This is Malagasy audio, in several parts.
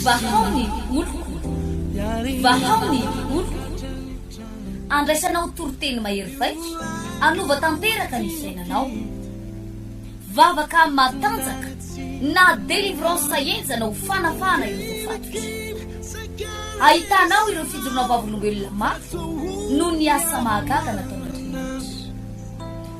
Vahao ny oloko, vahao ny oloko, andraisanao toriteny mahery vaika, hanova tanteraka ny fiainanao. Vavaka matanjaka na délivrance henjana ho fanafahana ireo voafatotra. Ahitanao ireo fijoroana vavolombelona mafy noho ny asa mahagaga nataon'Andriamanitra.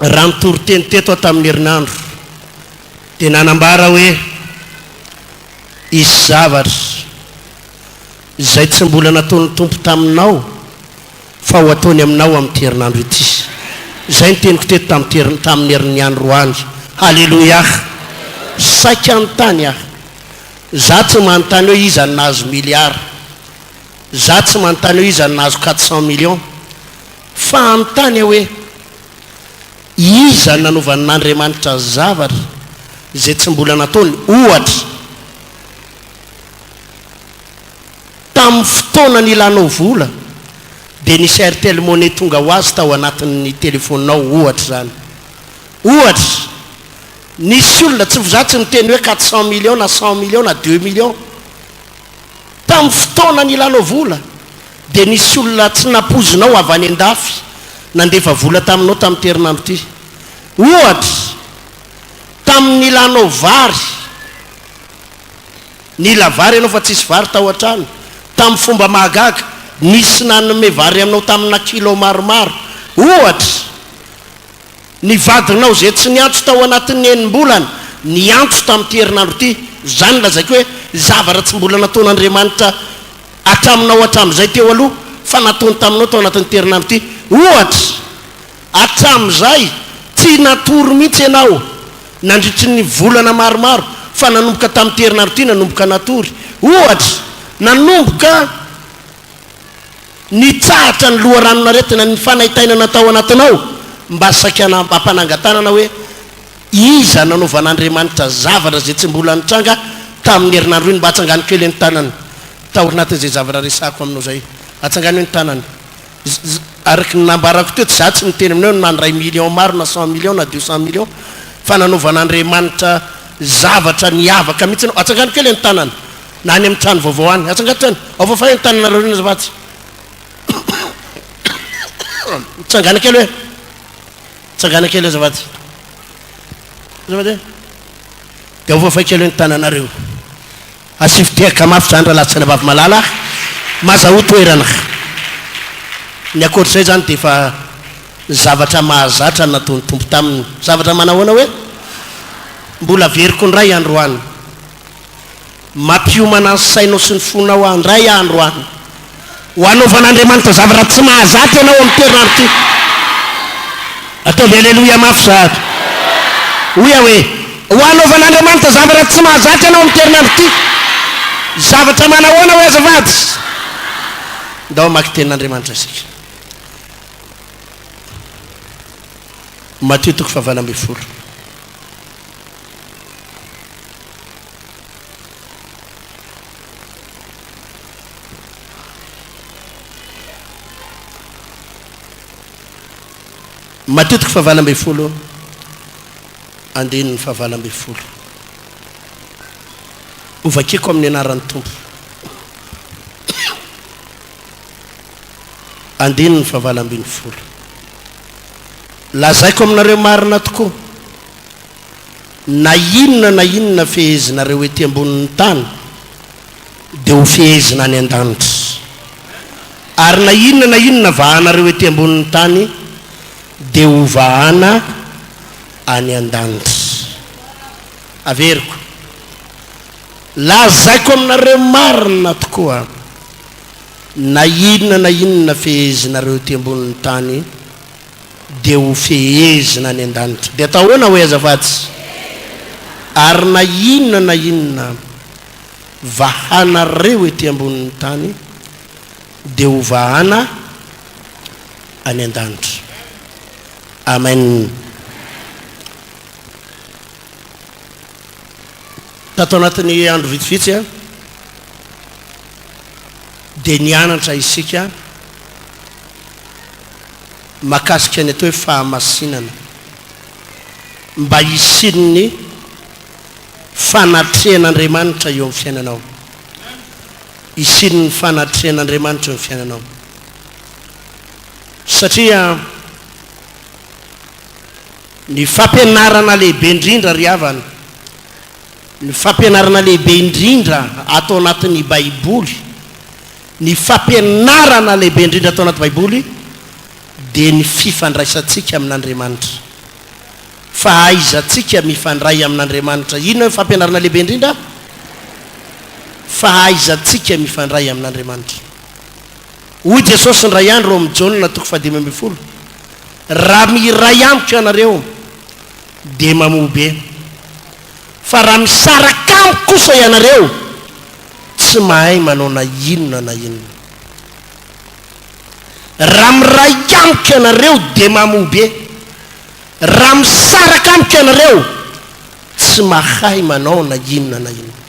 Raha nitoriteny teto aho tamin'ny herinandro dia nanambara hoe hisy zavatra izay tsy mbola nataon'ny Tompo taminao fa ho ataony aminao amin'ity herinandro ity. Izay ny teniko teto tamin'ity tamin'ny herin'ny androany. Haleloiaa! Saika hanontany aho. Izaho tsy manontany hoe iza no nahazo milliards. Izaho tsy manontany hoe iza no nahazo quatre cents millions. Fanontania hoe, Iza no nanovan'Andriamanitra zavatra izay tsy mbola nataony? Ohatra, tamin'ny fotoana nilanao vola, dia nisy Airtel Money tonga ho azy tao anatin'ny telefaoninao, ohatra izany. Ohatra, nisy olona, tsy v'za tsy niteny hoe quatre cent millions na cent millions na deux millions, tamin'ny fotoana nilanao vola, Dia nisy olona tsy nampoizinao avy any an-dafy nandefa vola taminao tamin'ity herinandro ity. Ohatra, tamin'ny nilanao vary, nila vary ianao fa tsisy vary tao an-trano, tamin'ny fomba mahagaga, nisy nanome vary anao tamina kilao maromaro. Ohatra. Ny vadinao izay tsy niantso tao anatin'ny enim-bolana niantso tamin'ity herinandro ity. Izany lazaiko hoe zavatra tsy mbola nataon'Andriamanitra hatraminao hatramin'izay teo aloha fa nataony taminao tao anatin'ity herinandro ity. Ohatra, hatramin'izay tsy natory mihitsy ianao nandritry ny volana maromaro fa nanomboka tamin'ity herinandro ity nanomboka natory. Ohatra, nanomboka. Nitsahatra ny loharanon-aretina ny fanaintainana tao anatinao mba saika hanambam-panangan-tanana hoe iza nanaovan'Andriamanitra zavatra izay tsy mbola nitranga tamin'ny herinandro iny mba hatsangano kely ny tanany taorinatin'izay zavatra resahako aminao izay. Atsangano ny tanany. Araka ny nambarako teo, tsy izaho tsy niteny aminao hoe nandray millions maro na cent millions na deux cent millions fa nanaovan'Andriamanitra zavatra niavaka mihitsy ianao. Atsangano kely ny tanany. na any amin'ny trano vaovao any. Atsangatro any. Aofafa eo ny tananareo ireny azafady. Mitsangana kely hoe. Mitsangana kely azafady. Azafady hoe. Dia aofafa kely hoe ny tananareo. Asivy tehaka mafy izany raha latsana vavy malala. Mazahoa toerana. Ny ankoatr'izay izany dia efa zavatra mahazatra nataon'ny Tompo taminy. Zavatra manahoana hoe? Mbola averiko indray androany. Mampiomana ny sainao sy ny fonao aho indray andro any ho hanaovan'Andriamanitra zavatra tsy mahazatra ianao amin'ity herinandro ity. Ataovy Aleloia mafy sahady. Hoy aho hoe, Ho hanaovan'Andriamanitra zavatra tsy mahazatra ianao amin'ity herinandro ity. Zavatra manahoana hoy azafady? Ndao hamaky Tenin'Andriamanitra isika. Matio toko fahavalo ambin'ny folo. Matetiky fahavalo ambin'ny folo andininy fahavalo ambin'ny folo. Hovakiko amin'ny anaran'ny Tompo. Andininy fahavalo ambin'ny folo. Lazaiko aminareo marina tokoa. Na inona na inona fehezinareo ety ambonin'ny tany dia ho fehezina any an-danitra, ary na inona na inona vahanareo ety ambonin'ny tany dia ho vahana any an-danitra. Averiko, lazaiko aminareo marina tokoa, na inona na inona fehezinareo ety ambonin'ny tany, dia ho fehezina any an-danitra. Dia atao ahoana hoy aza fa tsy. Ary na inona na inona vahanareo ety ambonin'ny tany dia ho vahana any an-danitra. Amen. Tato anatin'ny andro vitsivitsy a, dia nianatra isika. mahakasika ny atao hoe fahamasinana mba hisian'ny fanatrehan'Andriamanitra eo amin'ny fiainanao, hisian'ny fanatrehan'Andriamanitra eo amin'ny fiainanao. Satria ny fampianarana lehibe indrindra ry havana Ny fampianarana lehibe indrindra ato anatin'ny Baiboly, ny fampianarana lehibe indrindra ato anaty Baiboly dia ny fifandraisantsika amin'Andriamanitra. Fahaizantsika mifandray amin'Andriamanitra. Inona no fampianarana lehibe indrindra? Fahaizantsika mifandray amin'Andriamanitra. Hoy Jesosy indray andro ao amin'ny Jaona toko fahadimy ambin'ny folo, Raha miray amiko ianareo, dia mamoa be. Fa raha misaraka amiko kosa ianareo, tsy mahay manao na inona na inona. Raha miraika amiko ianareo, dia mamoa be. Raha misaraka amiko ianareo, tsy mahay manao na inona na inona.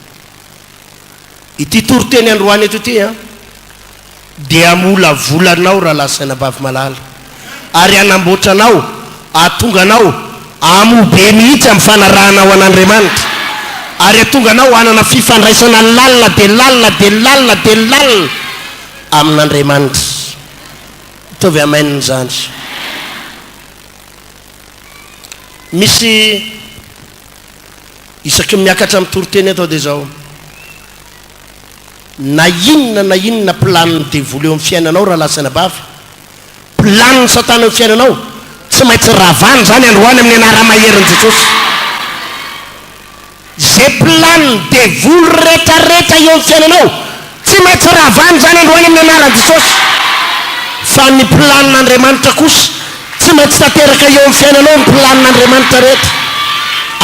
Ity toriteny androany eto ity an, dia hamolavola anao Rahalahy Sainabavy malala, ary hanamboatra anao, hahatonga anao hamoa be mihitsy amin'ny fanarahanao an'Andriamanitra, ary hahatonga anao hanana fifandraisana lalina dia lalina dia lalina dia lalina amin'Andriamanitra. Ataovy amen izany. Misy. Isaky ny miakatra amin'ny toriteny eto aho dia izao, na inona na inona planin'ny devoly eo amin'ny fiainanao rahalahy sy anabavy, planin'i Satana eo amin'ny fiainanao, tsy maintsy ravana izany androany amin'ny anara-maherin'i Jesosy. Izay planin'ny devoly rehetrarehetra eo amin'ny fiainanao, Tsy maintsy ravana izany androany amin'ny anaran'i Jesosy. Fa ny planin'Andriamanitra kosa, tsy maintsy tanteraka eo amin'ny fiainanao ny planin'Andriamanitra rehetra.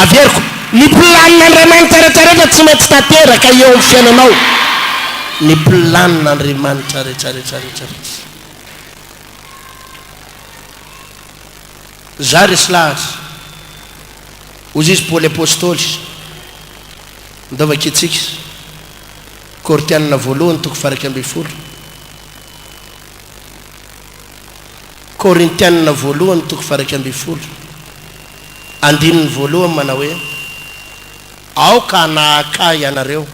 Averiko, ny planin'Andriamanitra rehetra rehetra tsy maintsy tanteraka eo amin'ny fiainanao ny planin'Andriamanitra rehetra rehetra rehetra rehetra. Zah ry slary, hozizy Paoly Apostoly, ndaova kitsika. Korinthiana voalohany toko faha iraika ambin'ny folo Korinthiana voalohany toko faha iraika ambin'ny folo andininy voalohany manao hoe aoka hanahaka ahy ianareo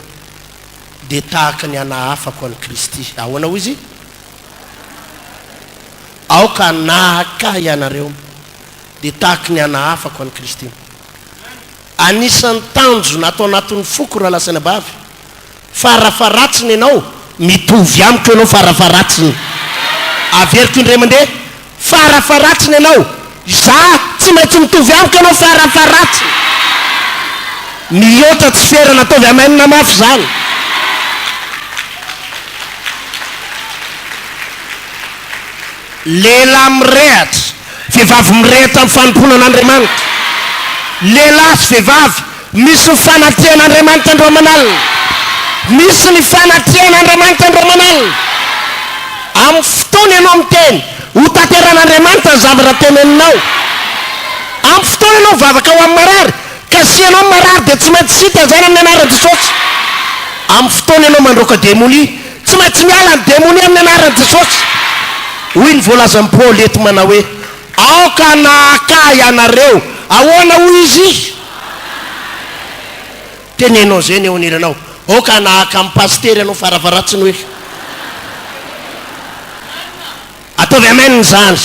dia tahaka ny hanahafako an'i Kristy ahoana hoy izy aoka hanahaka ahy ianareo dia tahaka ny hanahafako an'i Kristy Anisan'ny tanjona ato anatin'ny foko raha lazaina bavy farafaharatsiny ianao, mitovy amiko ianao farafaharatsiny, averiko indray mandeha, farafaharatsiny ianao, izaho tsy maintsy mitovy amiko ianao farafaharatsiny. Mihoatra tsy ferana, ataovy amen mafy izany. Lehilahy mirehatra, vehivavy mirehitra amin'ny fanompoana an'Andriamanitra. Lehilahy sy vehivavy misy ny fanatrehan' Andriamanitra andro aman' alina. Misy ny fanatrehan' Andriamanitra andro aman' alina. Amin'ny fotoana ianao miteny, hotanterahin' Andriamanitra ny zavatra teneninao. Amin'ny fotoana ianao mivavaka ho amin'ny marary, kasihanao ny marary dia tsy maintsy tsy hitazana amin'ny anaran'i Jesosy. Amin'ny fotoana ianao mandroaka demonia, Tsy maintsy miala ny demonia amin'ny anaran'i Jesosy. Hoy ny voalazan'i Paoly eto manao hoe, Aoka na hakahy ianareo. Ahoana hoy izy? Teneno an'izay ny eo anilanao. Aoka na haka amin'ny pasitery ianao faravaratsiny hoe. Ataovy amen izany.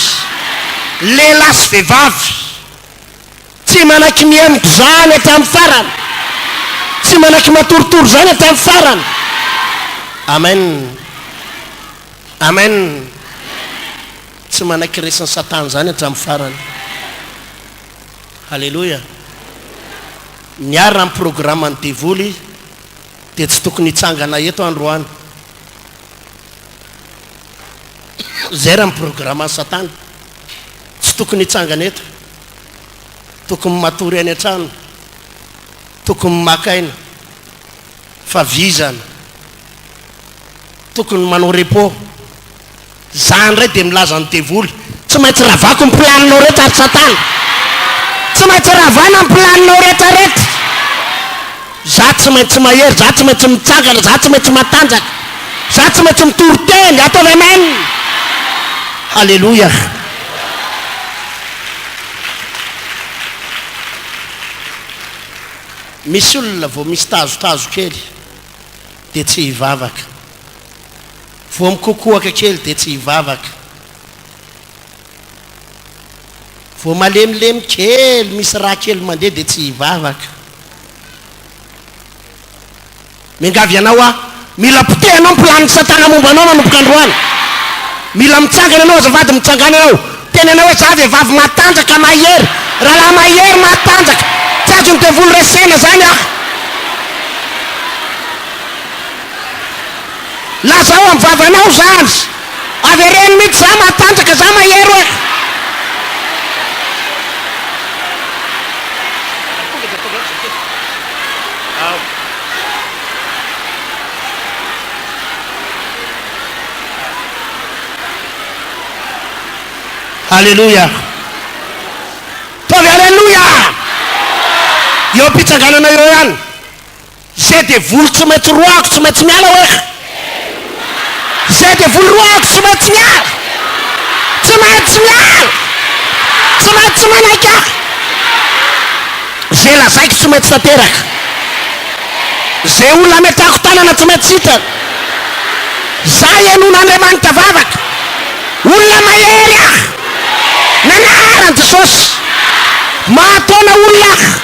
Lehilahy sy vehivavy. Tsy manakinihemiko izany hatramin'ny farany. Tsy manakimatoritory izany hatramin'ny farany. Amen. Amen. Tsy manakiresin'i Satana izany hatramin'ny farany. Haleloia. Ny ahy raha ny programan'ny devoly dia tsy tokony hitsangana eto aho androany. Izay raha ny programan'i Satana. Tsy tokony hitsangana eto. tokony matory any an-trano, tokony maka aina, fa vizana, tokony manao repos, za ndray dia milaza ny devoly, tsy maintsy ravako ny planinao rehetra ry satana, tsy maintsy ravana ny planinao rehetra rehetra. Za tsy maintsy mahery, za tsy maintsy mitsangana, za tsy maintsy matanjaka, za tsy maintsy mitory teny, ataovy Amen! Haleloia! Misy olona vao misy tazotazo kely dia tsy hivavaka, vao mikokoaka kely dia tsy hivavaka. Vao malemilemy kely, misy rà kely mandeha dia tsy hivavaka. Miangavy anao aho, mila potehanao ny planiny satana momba anao manomboka androany. Mila mitsangana ianao azafady, mitsangàna ianao. Teny anao hoe izaho vehivavy matanjaka, mahery, rahalahy mahery, matanjaka. Tsy azon'ny devoly resena izany aho. Lazao amin'ny vavanao izany. Avereno mitsy za matanjaka za mahery oe. Aleloia. Taovy aleloia. Eo am-pitsanganana eo ihany. Zay devoly tsy maintsy roahiko tsy maintsy miala wesh! Zay devoly roahiko tsy maintsy miala! Tsy maintsy miala! Tsy maintsy manaiky ahy! Zay lazaiko tsy maintsy tanteraka! Zay olona ametrahako tanana tsy maintsy sitrana! Za henon'Andriamanitra vavaka! Olona mahery aho! Nanahary an'i Jesosy! Mahataona olona aho!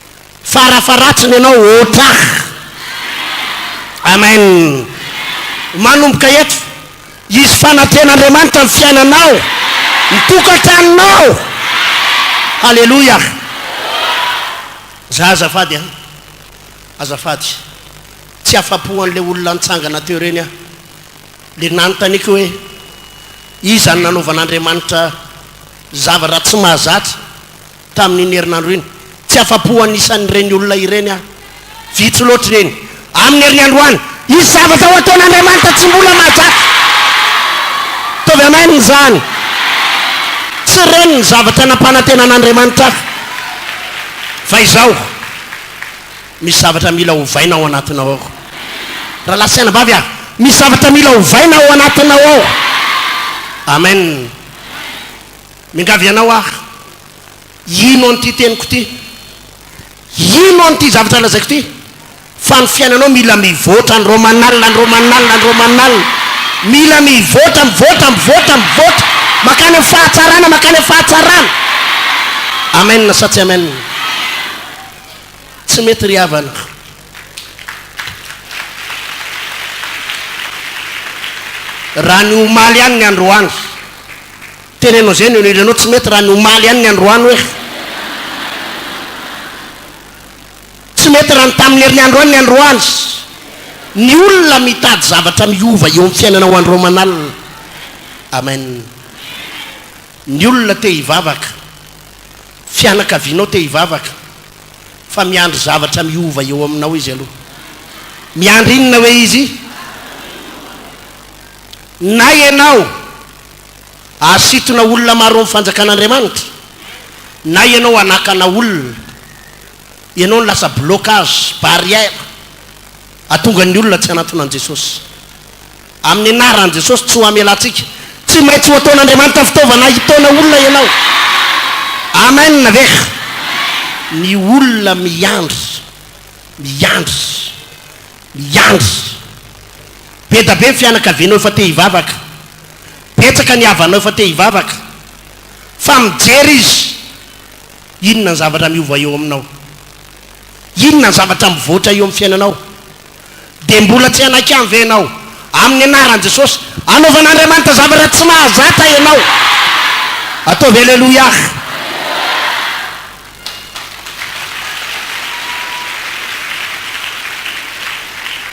Farafaratsiny ianao ôtrah! Amen! Manomboka eto, hisy fanatrehan'Andriamanitra ny fiainanao, ny tokantranonao! Haleloia! Za azafady an! Azafady! Tsy afa-po an'ilay olona nitsangana teo ireny aho. Ilay nanontaniako hoe, Iza no nanaovan'Andriamanitra zava-dratsy mahazatra? tamin'iny herinandro iny. Tsy afa-po an'isan'ireny olona ireny aho. Vitsy loatra ireny. Amin'ny herin'ny androany. Hisy zavatra ho ataon'Andriamanitra tsy mbola mahazatra. Ataovy Amen izany. Tsy ireny ny zavatra nampanantenan'Andriamanitra ahy. Fa izao, Misy zavatra mila ovaina ao anatinao ao. Rahalahy sy anabavy a! Misy zavatra mila ovaina ao anatinao ao. Amen. Miangavy anao aho, hino an'ity teniko ity, hino an'ity zavatra lazaiko ity, fa ny fiainanao mila mivoatra, ny Romanal, ny Romanal, ny Romanal, mila mivoatra, mivoatra, mivoatra, mivoatra, makany amin'ny fahatsarana, makany amin'ny fahatsarana. Amen sa tsy amen? Tsy mety ry havana. Raha ny omaly ihany ny androany, Teneno zay no ilanao tsy mety raha ny omaly ihany ny androany hoe fa tsy mety raha ny tamin'ny herinandro ihany ny androany ny olona mitady zavatra miova eo amin'ny fiainanao andro aman'alina amen ny olona te hivavaka fianakavianao te hivavaka fa miandry zavatra miova eo aminao izy aloha miandry inona hoe izy na ianao Hasintona olona maro amin'ny fanjakan'Andriamanitra. Na ianao hanakana olona, ianao no lasa blocage, barrière, hahatonga ny olona tsy hanantona an'i Jesosy. Amin'ny anaran'i Jesosy, tsy ho hamelantsika. Tsy maintsy ho ataon'Andriamanitra fitaovana hitaona olona ianao. Amen ve? Ny olona miandry, miandry, miandry. Be da be ny fianakavianao efa te hivavaka. Betsaka ny havanao efa te hivavaka fa mijery izy inona ny zavatra miova eo aminao, inona ny zavatra mivoatra eo amin'ny fiainanao. Dia mbola tsy hanaiky any ve ianao amin'ny anaran'i Jesosy hanaovan'Andriamanitra zavatra tsy mahazatra ianao? Ataovy Aleloia!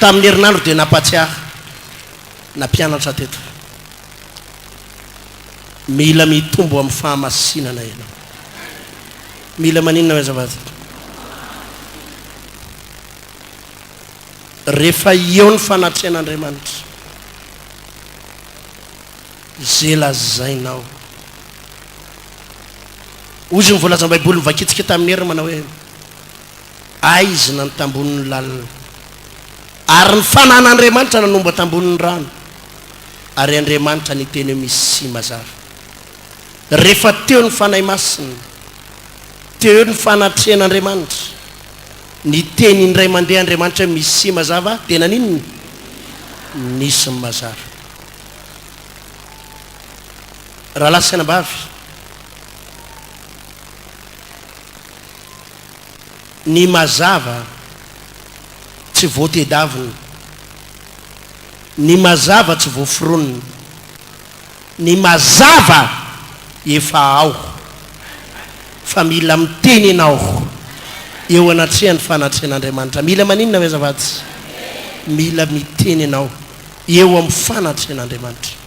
Tamin'ny herinandro dia nampahatsiahy. na mpianatra teto fa mila mitombo amin'ny fahamasinana ianao. Mila maninona ve azafady? Rehefa eo ny fanatrehan'Andriamanitra, izay lazainao. Hoy izy ny voalazan'ny Baiboly, Nivakitsika tamin'ny heriny manao hoe. Aizina ny tambonin'ny lalina, ary ny fanan'Andriamanitra nanomba tambonin'ny rano, ary Andriamanitra niteny hoe misy sy mazava. Rehefa teo ny Fanahy Masina, teo eo ny fanatrehan'Andriamanitra, niteny indray mandeha Andriamanitra hoe misy sy mazava, dia naninona? Nisy ny mazava. Rahalahy sy anabavy, Ny mazava tsy voatedavina. Ny mazava tsy voaforonina. Ny mazava efa ao. Fa mila miteny ianao eo anatrehan'ny fanatrehan'Andriamanitra. Mila maninona ve azafady? Mila miteny ianao eo amin'ny fanatrehan'Andriamanitra.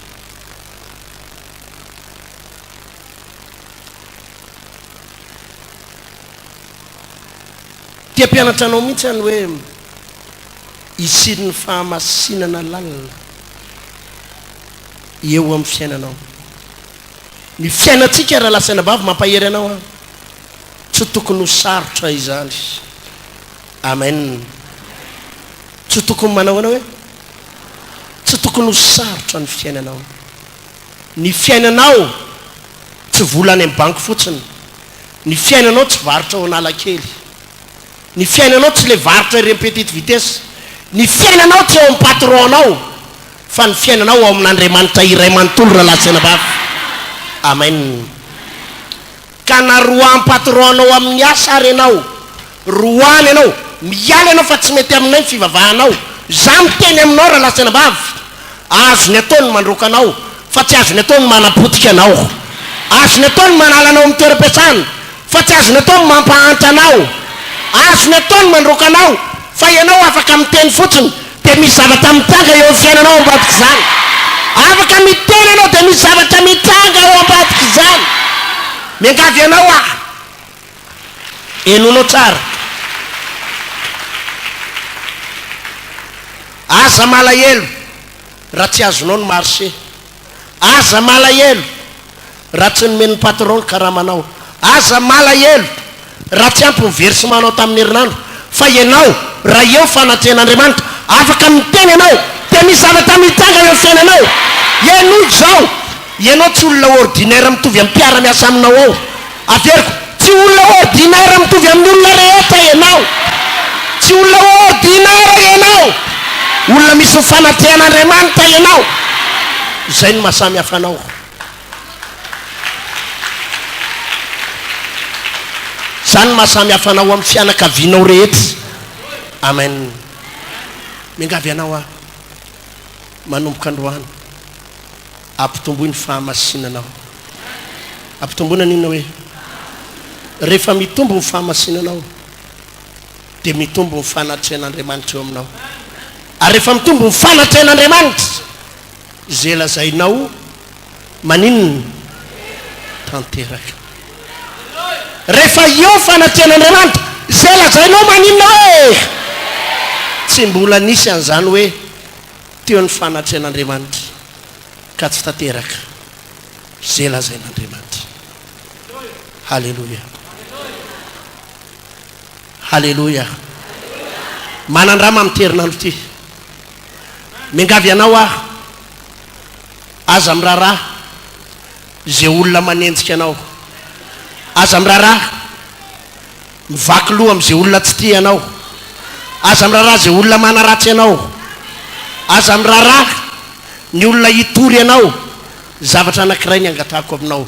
Te hampianatra anao mihitsy aho ny hoe hisian'ny fahamasinana lalina eo amin'ny fiainanao. Ny fiainantsika raha lahy sy anabavy mampahery anao aho. Tsy tokony ho sarotra izany. Amen. Tsy tokony manao anao hoe tsy tokony ho sarotra ny fiainanao. Ny fiainanao tsy vola any amin'ny banky fotsiny. Ny fiainanao tsy varotra ao Analakely. Ny fiainanao tsy ilay varotra ireny petite vitesse. Ny fiainanao tsy ao amin'ny patron nao fa ny fiainanao ao amin'Andriamanitra iray manontolo Ralahy sy Anabavy. Amen. Ka na roahan'ny patron anao amin'ny asa ary ianao, roahany ianao, miala ianao fa tsy mety aminay ny fivavahanao, za miteny aminao rahalasan ambavy, azony atao ny mandroaka anao fa tsy azony atao ny manapotika anao, azony atao ny manala anao amin'ny toeram-piasana fa tsy azony atao ny mampahantra anao, azony atao ny mandroaka anao fa ianao afaka miteny fotsiny Dia misy zavatra mitranga eo amin'ny fiainanao ao ambadik'izany. Afaka miteny ianao dia misy zavatra mitranga ao ambadik'izany. Miangavy anao aho, henoinao tsara. Aza malahelo raha tsy azonao ny marcher. Aza malahelo raha tsy nomen'ny patron ny karamanao. Aza malahelo raha tsy ampy ny versementnao tamin'ny herinandro. Fa ianao, raha eo fanatrehan'Andriamanitra, afaka miteny ianao dia misy zavatra mitranga eo amin'ny fiainanao. Henoy izao, ianao tsy olona ordinaire mitovy amin'ny mpiara-miasa aminao ao. Averiko, tsy olona ordinaire mitovy amin'ny olona rehetra ianao. Tsy olona ordinaire ianao. Olona misy ny fanatrehan'Andriamanitra ianao. Izay no mahasamihafa anao. Izany no mahasamihafa anao amin'ny fianakavianao rehetra. Amen. Miangavy anao aho, manomboka androany. Ampitomboy ny fahamasinanao. Ampitomboina ny inona hoe? Rehefa mitombo ny fahamasinanao dia mitombo ny fanatrehan'Andriamanitra eo aminao. Ary rehefa mitombo ny fanatrehan'Andriamanitra izay lazainao maninona? Tanteraka. Rehefa eo fanatrehan'Andriamanitra izay lazainao maninona hoe? Tsy mbola nisy an'izany hoe Teo ny fanatrehan'Andriamanitra ka tsy tanteraka izay lazain'Andriamanitra. Haleloia! Haleloia! Manandrama amin'ity herinandro ity. Miangavy anao aho, aza miraharaha izay olona manenjika anao. Aza miraharaha Mivaky loha amin'izay olona tsy tia anao. Aza miraharaha izay olona manaratsy anao. Aza miraharaha ny olona hitory anao. Zavatra anankiray ny angatahako aminao,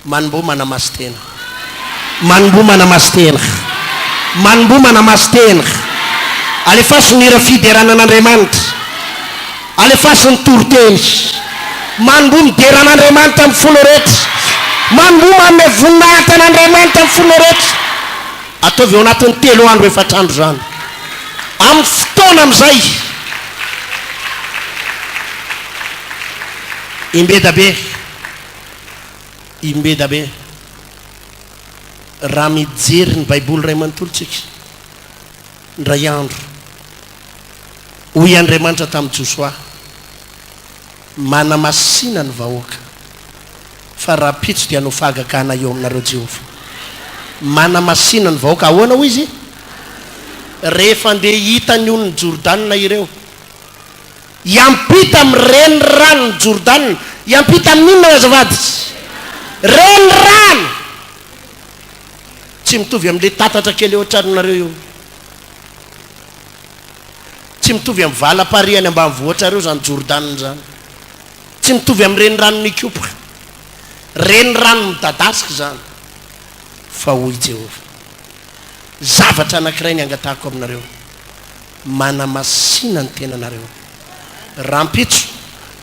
Manomboha manamasin-tena. Manomboha manamasin-tena. Manomboha manamasin-tena. Alefaso ny hira Fiderana an'Andriamanitra. Alefaso ny toriteny. Manomboha midera an'Andriamanitra amin'ny fonao rehetra. Manomboha manome voninahitra an'Andriamanitra amin'ny fonao rehetra. Ataovy ao anatin'ny telo andro, efatra andro izany. Amin'ny fotoana amin'izay, imbeda be, imbeda be, raha mijery ny Baiboly iray manontolo isika, Indray andro, hoy Andriamanitra tamin'i Josoa, Manamasina ny vahoaka, fa rahampitso dia hanao fahagagana eo aminareo Jehovah. Manamasina ny vahoaka. Ahoana hoy izy? Rehefa andeha hita ny olon'i Jordana ireo. Hiampita amin'ny reniranon'i Jordana. Hiampita amin'inona, azafady? Renirano! Tsy mitovy amin'ilay tatatra kely eo an-tranonareo io. Tsy mitovy amin'ny valam-parihy any ambanivohitrareo izany Jordana izany. Tsy mitovy amin'ny renirano nikopoka. Renirano midadasika izany. Fa hoy Jehovah, Zavatra anankiray ny angatahako aminareo. manamasina ny tenanareo. Rahampitso,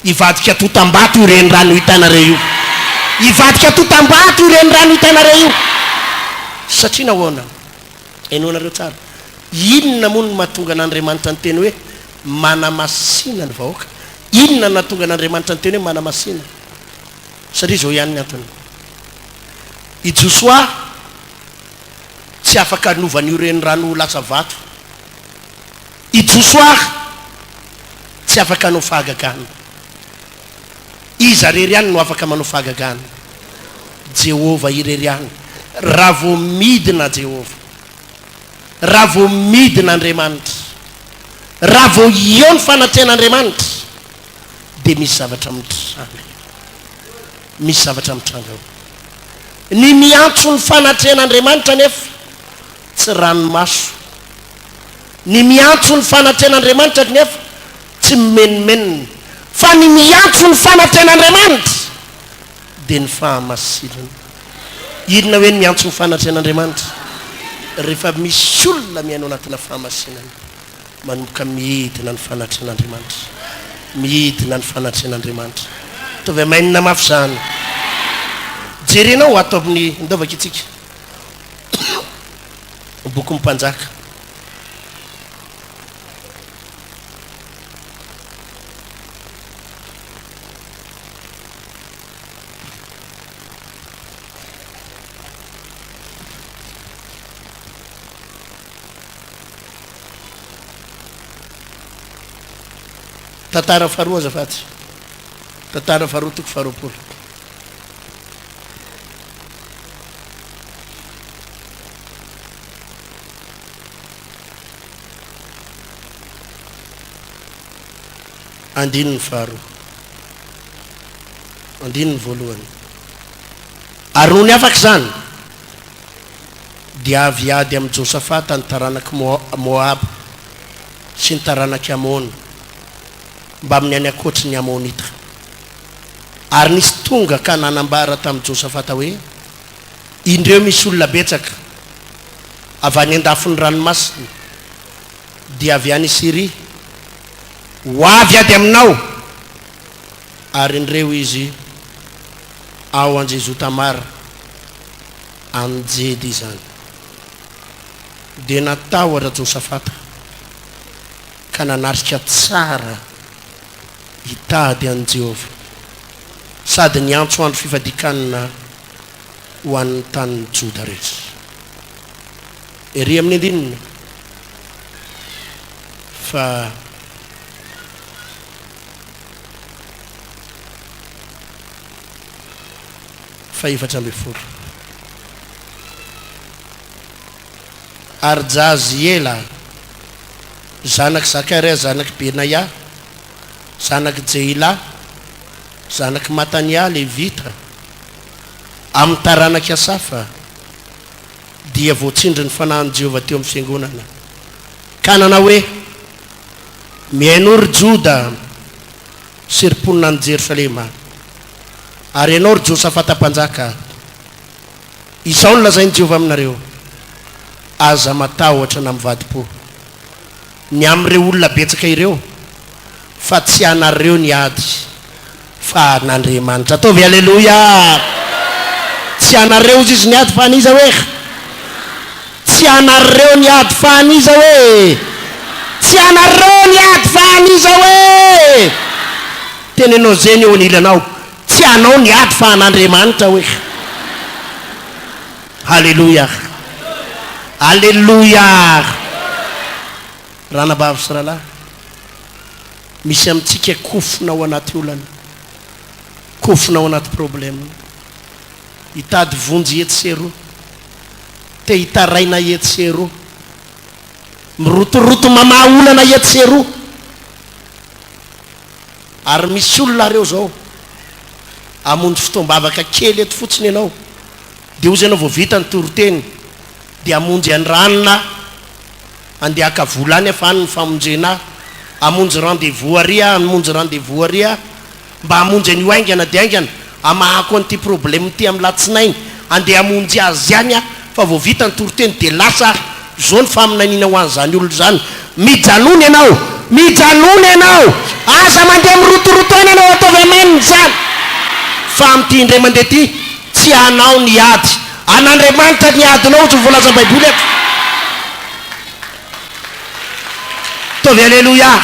hivadika to Tambato io renirano hitanareo io. Hivadika to Tambato io renirano hitanareo io. Satria nahoana? Henoinareo tsara. Inona moa no mahatonga an'Andriamanitra niteny hoe manamasina ny vahoaka? Inona no nahatonga an'Andriamanitra niteny hoe manamasina? Satria izao ihany ny antony. I Josoa. tsy afaka hanova an'io renirano ho lasa vato. I Josoar tsy afaka hanao fahagagana. Iza irery ihany no afaka manao fahagagana? Jehovah irery ihany. Raha vao midina Jehovah, raha vao midina Andriamanitra, raha vao eo ny fanatrehan'Andriamanitra, dia misy zavatra mitranga. misy zavatra mitranga ao. Ny miantso ny fanatrehan'Andriamanitra anefa tsy ranomaso. Ny miantso ny fanatrehan'Andriamanitra anefa tsy mimenomenona. Fa ny miantso ny fanatrehan'Andriamanitra dia ny fahamasinana. Inona hoe ny miantso ny fanatrehan'Andriamanitra? Rehefa misy olona miaina ao anatina fahamasinana. Manomboka midina ny fanatrehan'Andriamanitra. Midina ny fanatrehan'Andriamanitra. Ataovy Amen mafy izany. Jerenao ato amin'ny ndaovaka itsika. Bokin'ny mpanjaka. Tantara faharoa azafady. Tantara faharoa toko faharoapolo. Andininy faharoa. Andininy voalohany. Ary noho ny afaka izany, dia avy hiady amin'i Josafata ny taranak'i Moaba sy ny taranak'i Amona mbamin'ny any ankoatry ny Amonita. Ary nisy tonga ka nanambara tamin'i Josafata hoe, Indreo misy olona betsaka avy any an-dafin'ny ranomasina, dia avy any Syria, ho avy hiady aminao, ary indreo izy ao Anjezotamara. amin'ny jedy izany dia natahotra Josafata ka nanatrika tsara hitady an'i Jehovah sady niantso andro fifadian-kanina ho an'ny tanin'i Joda rehetra. Ery amin'ny andininy fa fahefatra ambin'ny folo. Ary Jahaziela zanak'i Zakaria zanak'i Benaia zanak'i Jehilà zanak'i Matanià Levita amin'ny taranak'i Asafa dia voatsindry ny fanahin'i Jehovah teo amin'ny fiangonana ka nanao hoe, Mihainoa, ry Joda, Serom-ponina any Jerosalema ary ianao, ry Josafata mpanjaka, izao no lazain'i Jehovah aminareo, Aza matahotra na mivadi-po ny amin'ireo olona betsaka ireo, fa tsy anareo ny ady, fa an'Andriamanitra. Ataovy Aleloia! Tsy anareo hozy izy ny ady, fa an'iza ho'eh? Tsy anareo ny ady fa an'iza hoe e! Tsy anareo ny ady fa an'iza hoe e! Teneno zeny eo anilanao, tsy anao ny ady fa an'Andriamanitra hoe e! Haleloia! Haleloia! Ranabavy sy rahalahy, misy amintsika kofona ao anaty olana, kofona ao anaty problème. Hitady vonjy etsy sy eroa. Te hitaraina etsy sy eroa. Mirotoroto mamaha olana etsy sy eroa. Ary misy olona ary ao izao, hamonjy fotoam-bavaka kely eto fotsiny ianao, dia hozy ianao vao vita ny toriteny, dia hamonjy an-dRanona aho, handeha haka vola any aho fa any ny famonjena ahy, hamonjy rendez-vous àry aho, hamonjy rendez-vous àry aho. Mba hamonjy an'io haingana dia haingana hamahako an'ity problème ity amin'ny latsinainy andeha hamonjy azy ihany aho fa vao vita ny toriteny dia lasa aho, izao ny faminaniana ho an'izany olona izany, mijanona ianao, mijanona ianao, aza mandeha mirotoroto any ianao ataovy amaniny izany fa amin'ity indray mandeha ity tsy hanao ny ady an'Andriamanitra ny adinao ohatry ny voalazan'ny baiboly eto. Ataovy Aleloia!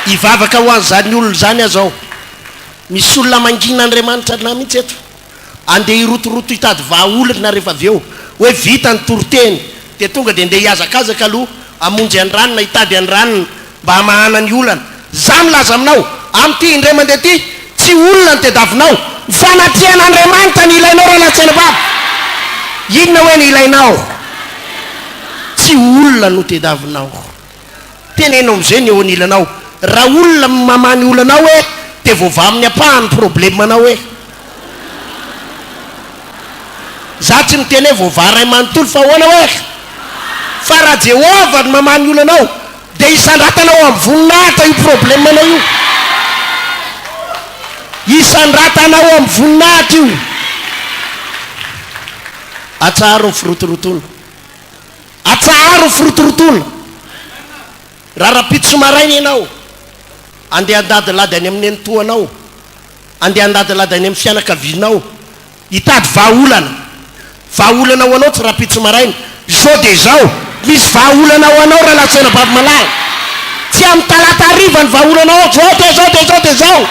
Hivavaka ho an'izany olona izany aza aho. Misy olona mangina Andriamanitra an'ahy mihitsy eto. Andeha hirotoroto hitady vahaolana rehefa avy eo. Hoe vita ny toriteny dia tonga dia ndeha hihazakazaka aloha hamonjy an'i Ranona, hitady an'i Ranona. Mba hamahana ny olana. Za milaza aminao, amin'ity indray mandeha ity, tsy olona ny tediavinao. Fanatrehan'Andriamanitra ny ilainao Ranantsenibaba. Inona hoe ny ilainao? Tsy olona no tediavinao. Teneno amin'izay ny eo anilanao. Raha olona no mamaha ny olanao e, dia voavaha amin'ny ampaha ny problemanao e. Za tsy miteny hoe voavaha ray manontolo fa ahoana hoe? Fa raha Jehovah no mamaha ny olanao, Dia hisandratana ao amin'ny voninahitra io problemanao io. Hisandratana ao amin'ny voninahitra io. Atsaharo ny firotorotoana. Atsaharo ny firotorotoana. Raha rahampitso maraina ianao, andeha handadilady any amin'ny nenitoanao, andeha handadilady any amin'ny fianakavianao, Hitady vahaolana. Vahaolana ho anao tsy rahampitso maraina. Izao dia izao. Misy vahaolana ho anao Ralatsena Bavimalahy. Tsy amin'ny talata hariva ny vahaolana ho anao. Izao dia izao dia izao dia izao.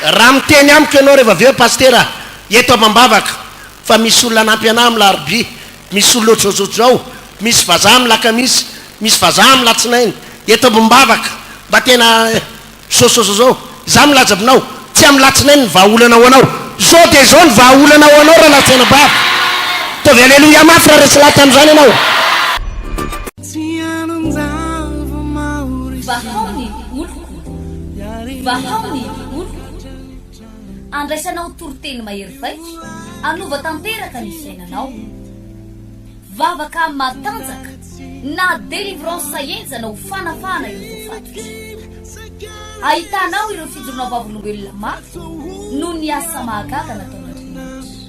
Raha miteny amiko ianao rehefa avy eo Pasitera, eto amam-bavaka, fa misy olona hanampy anà amin'ny larobia, Misy olona ohatrohatr'izao, misy vazaha milakamisy, misy vazaha milatsinainy, eto amim-bavaka, mba tena sososo izao. Izaho milaza aminao, tsy amin'ny latsinainy ny vahaolana ho anao. Izao dia izao ny vahaolana ho anao raha latsinaina bavaka. Ataovy aleloia mafy raha resy lahy tamin'izany ianao. Vahao ny oloko, vahao ny oloko. Andraisanao toriteny mahery vaika, hanova tanteraka ny fiainanao. Vavaka matanjaka na delivrance henjana ho fanafahana ireo voafatotra. Ahitanao ireo fijoroana vavolombelona maty noho ny asa mahagaga nataon'Andriamanitra.